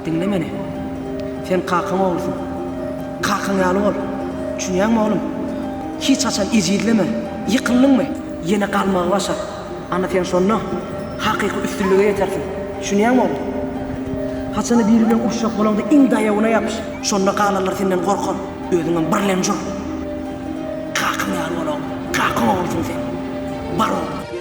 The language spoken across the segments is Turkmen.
Diňle meni. Sen kakaň oglusyň. Kakaň ýaly bol. Düşünýäňmi, oglum? Hiç haçan ejizleme. Ýykyldyňmy, ýene galmagy başar. Ana sen şonda hakyky üstünlige ýetersiň. Düşünýäňmi, oglum? Haçanda biri bilen uruşjak bolaňda iň daýawyna ýapyş. Şonda galanlar senden gorkar. Özüňem birlemji ol. Kakaň ýaly bol, oglum. Kakaň oglusyň sen. Bar bol.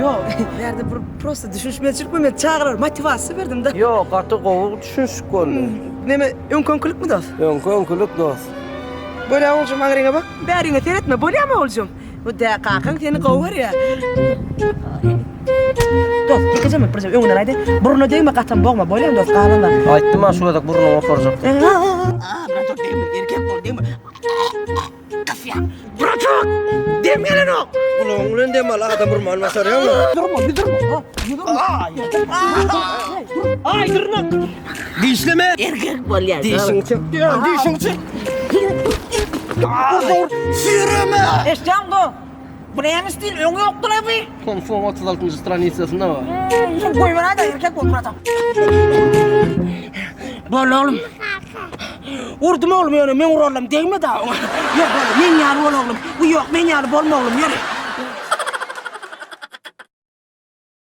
Ýok, bu ýerde bir prosta düşünişmezçilik boldy. Men çagalara motiwasiýa berdim-de. Ýok, gaty gowy düşünişik boldy. Näme, öňki-öňkülikmi dos? Öňki-öňkülik dos. Bolýa oguljym, aňryňa bak. Bäriňe seretme, bolýamy oguljym? Bu dä, kakaň seni gowy görýä. Dos, dikizemlik birje öňünden aýdaý. Burnuna degme, gatam bogma, bolýamy dos, galan zat? Aýtdym-a, şu gezek burnuňy oparjak diýip. Aa, brat, dos, degme, erkek bol, degme. Kasýan. Bratok! Dem gelenok. Gulagyň bilen dem al, adam urman başarýaňmy? Durma, bir durma. ha, bir durma. Ay, Ay, durma. Dişleme. Erkek bol ya. Dişini çek. Dişini çek. Süreme. Eşcan dur. Bu näme stil öňi ýokdur abi. Tom Ford 36 njy stranisasynda bar. Şunu goýbera da erkek bol Murat Bol oglum. Urdum oglum ýöne men urallam degme da. Ýör bol men ýaly bol oglum. Bu ýok men ýaly bolma oglum ýör.